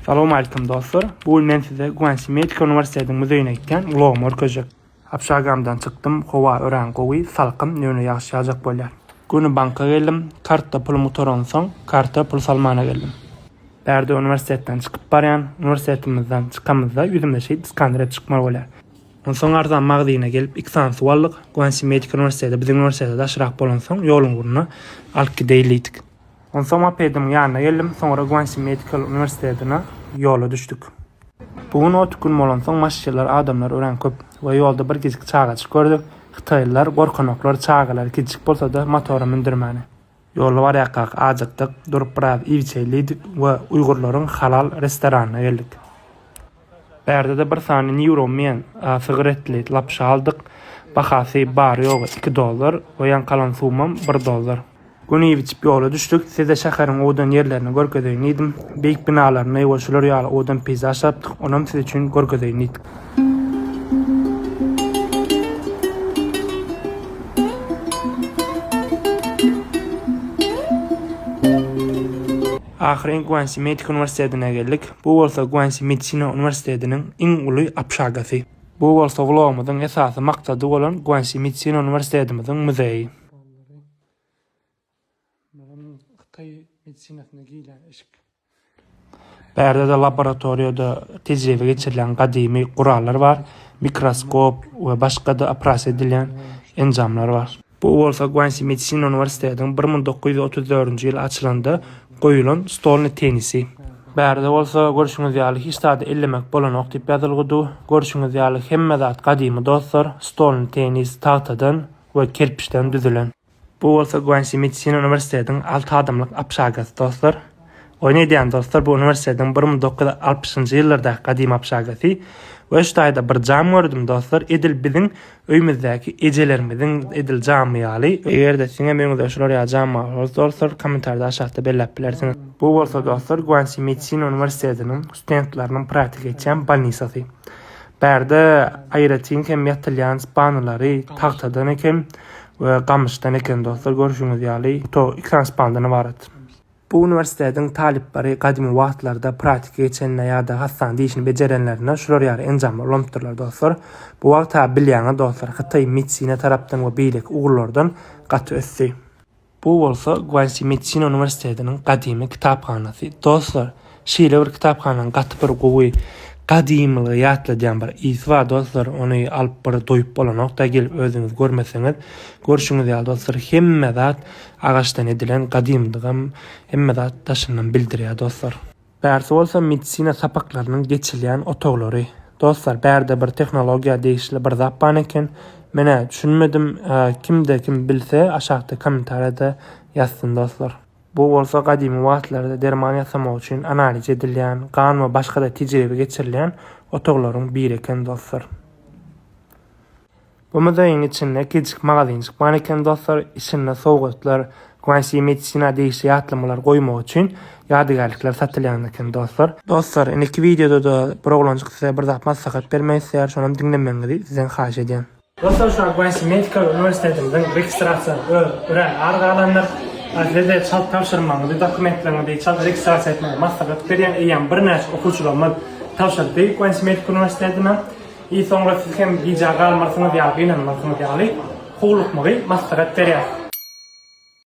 Salam aleykum dostlar. Bu gün men size Guanxi Medical Universitetiň müzeýine gitýän vlogymy görkezjek. Apşagamdan çykdym, howa örän gowy, salkyn, nöne ýagyş ýagjak bolýar. Göni banka geldim, kartda pulumy gutaransoň, karta pul salmana geldim. Bärde uniwersitetden çykyp barýan, uniwersitetimizden çykamyzda ýüzümde şeýdip skanirep çykmaly bolýar. Onsoň arzan magzyna gelip iki sany suw aldyk, Guanxi Medical Universiteti biziň uniwersitete daşrak bolansoň ýoluň ugruna alyp gideýin diýdik. Onsoň mopediň ýanyna geldim, soňra Guansi Medical uniwersitetine ýola düşdük. Bu gün ot gün bolansoň maşşeler adamlar örän köp we ýolda bir gijik çagajyk gördük. Hytaýlylar gorkanoklar çagalary kiçijik bolsada motora mündürmäne. Ýolda barýakak ajykdyk, durup biraz iýip-içeýlidik we uýgurlaryň halal restoranyna geldik. Bärde-de bir sany Nýuro Men a sygyr etli lapyşa aldyk. Bahasy bary-ýogy iki dollar. Goýan kalan sumam bir dollar. Gün iýip-içip ýola düşdük. Size şäheriň owadan ýerlerini görkezeýin diýdim. Beýik binalaryny we şular ýaly owadan peýzaž tapdyk, onam siz üçin görkezeýin diýdik. Ahyryn Guansi Medik Uniwersitetine geldik. Bu bolsa Guansi Medisina Uniwersitetiniň iň uly apşagasy. Bu bolsa ulagymyzyň esasy maksady bolan Guansi Medisina Uniwersitetimiziň muzeýi. Bärde-de laboratoriýada tejribe geçirilen gadymy gurallar bar, mikroskop we başga-da operasiýa edilýän enjamlar bar. Bu bolsa Guansi medisina uniwersitetiniň bir müň dokuz ýüz otuz dördünji ýyl açylanda goýulan stolny tennisi. Bärde bolsa, görşüňiz ýaly, hiç zady ellemek bolanok diýip ýazylgydu. Görşüňiz ýaly, hemme zat gadymy dostlar, stolny tennis tagtadan we kerpiçden düzülen. Bu bolsa Guansi medisina uniwersitetiniň alty adamlyk apşagysy dostlar. Oýun edýän dostlar bu uniwersitetiň bir müň dokuz ýüz altmyşynjy ýyllardaky gadymy obşagasy we şu taýda bir jam gördüm dostlar edil biziň öýmüzdäki ejelerimiziň edil jamy ýaly. Eger-de siziňem öýüňizde şular ýaly jam bar bolsa dostlar kommentarda aşakda belläp bilersiňiz. Bu bolsa dostlar Guansi medisina uniwersitetiniň studentleriniň praktika geçýän bolnisasy. Bärde aýratyn hem ýatylýan spanalary tagtadan eken we gamyşdan eken dostlar görşüňiz ýaly to iki sany spandan ybarat. Bu uniwersitetiň talyplary gadymy wagtlarda pratika geçenine ýa-da hassanada işini bejerenlerine şular ýaly enjamlar ulanypdyrlar dostlar. Bu wagta bilýäňiz dostlar Hytaý medsina tarapdan we beýleki ugurlardan gaty ösdi. Bu bolsa Guansi medsina uniwersitetiniň gadymy kitaphanasy. Dostlar, Şeýle bir kitaphanaň gaty bir gowy gadymylygy ýatladýan bir ysy bar dostlar ony alyp bir doýup bolanokda gelip özüňiz görmeseňiz görşüňiz ýaly dostlar hemme zat agaçdan edilen gadymdygam hemme zat daşyndan bildirýär dostlar. Bärsi bolsa medisina sapaklarynyň geçilýän otaglary dostlar bärde bir tehnologiýa degişli bir zat ban eken menä düşünmedim kimde kim bilse aşakda kommentariýada ýazsyn dostlar. Bu bolsa gadymy wagtlarda derman ýasamak üçin analiz edilýän, gan we başga-da tejribe geçirilýän otaglaryň biri eken dostlar. Bu muzeýiň içinde kiçijik magazynjyk bar eken dostlar, içinde sowgatlar, Guanxi Medicina degişli ýatlamalar goýmak üçin ýadygärlikler satylýan eken dostlar. Dostlar, indiki wideoda-da bir oglanjyk size bir zat maslahat bermek isleýär, şonam diňlemegiňizi sizden haýyş edýän. Dostlar şu Akbank Medical Uniwersitetimiziň registrasiýasy öz örän ar galandyr. Sizede çalt tabşyrmagyňyzy, dokumentleriňizi çalt registrasiýa etmegi maslahat berýän eýýäm birnäçe okuwçylarymyz tabşyrdy Akbank Medical Uniwersitetine. I soňra siz hem bijä galmarsyňyz ýa gynanmarsyňyz ýaly howlukmagy maslahat berýäs.